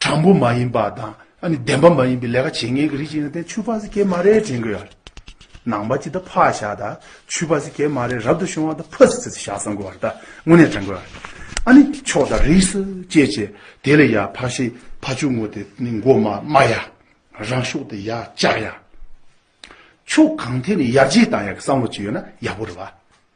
དྲང་པོ་མ་ཡིན་པ་དང་བདེན་པ་མ་ཡིན་པའི་ལས་ཀ་བྱེད་ངེས་ཀྱི་རིགས་ཅིག་ཡིན་ན་དེ་ཆུ་ཕག་སི་ཀའི་མ་རེད་དྲན་གྱི་ཡོད། ནང་པ་ཅིག་ད་ཕག་བཞག་ད་ཆུ་ཕག་སི་ཀའི་མ་རེད་རབ་ཏུ་བྱུང་བ་ད་ཕག་སི་ཀའི་བཞག་བསམ་གྱི་བར་ད་དངོས་གནས་དྲན་གྱི་ཡོད། ཨ་ནི་ཆོག་ད་རིས་སུ་སྐྱེས་བྱས་དེ་ལས་ཡག་ཕག་ཤི་ཕག་ཆུ་ངོ་དེ་ནི་མགོ་མ་དམའ་ཡ། རང་ཤུགས་དེ་ཡག་ལྕགས་ཡ། ཆུ་གང་ཐད་ནས་ཡར་རྗེས་བཏང་ཡག་གི་བསམ་བློ་ཅིག་ཡོད་ན་ཡག་པོ་རེད་བ།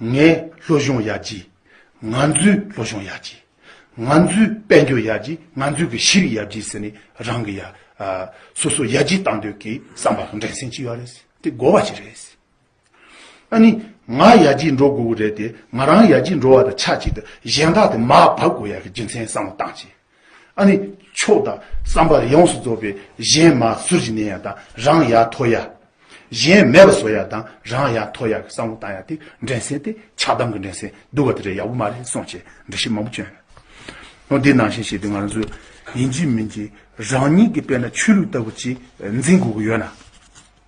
ངའི་བློ་གཞུང་ཡག་ཅི། ང་ཚོའི་བློ་གཞུང་ཡག་ཅི། ང་ཚོའི་དཔལ་འབྱོར་ཡག་ཅི་ང་ཚོའི་གི་ཤི་རི་ཡག་ཅི་ཟེར་ནས་རང་གི་ཡ་སོ་སོ་ཡག་ཅི་བཏང་འདོད་ཀི་བསམ་པ་དང་འགྲན་སེམས་ཅི་ཡོད་རེད་དེ་དགོ་བ་ཞིག་རེད། ཨ་ནི་ང་ཡག་ཅི་འགྲོ་དགོས་གི་རེད་དེ་ང་རང་ཡག་ཅི་འགྲོ་བ་དང་ཆ་གཅིག་ཏུ་གཞན་དག་དེ་མ་བབ་དགོས་ཡག་གི་རྒྱུ་མཚན་བསམ་བློ་བཏང་ཅི། ཨ་ནི། མཆོག་དང་བསམ་པར་ཡོངས་སུ་རྫོགས་པའི་གཞན་མ་ཟུར་གྱི་གནས་ཡ་དང་རང་ཡ་ཐོ་ཡ། གཞན་མེད་པ་བཟོ་ཡ་དང་རང་ཡ་ཐོ་ཡ་གི་བསམ་བློ་བཏང་ཡ་དེ་འགྲན་སེམས་ཏེ་ཆགས་སྡང་གི་འགྲན་སེམས་བསྡུ་བ་དེ་འདྲ་ཡག་པོ་མ་རེད་སོང་བྱས་འདྲི་ཞིབ་མང་པོ་བྱོས། ཨོ་དེ་ནང་བཞིན་བྱས་ཏེ་ང་ཚོས་ཡིན་གྱི་མིན་གྱི་རང་ཉིད་ཀྱི་དཔེར་ན་ཆོས་ལུགས་ལྟ་བུ་གཅིག་འཛིན་དགོས་ཀྱི་ཡོད་ན།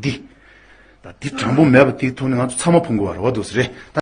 འདི། ད། འདི་དྲང་པོ་མེད་པ་དེའི་ཐོག་ནས་ང་ཚོ་ཚང་མ་ཕུང་དགོས་པ་རེད་བ་དོ་སི་རེད་ད།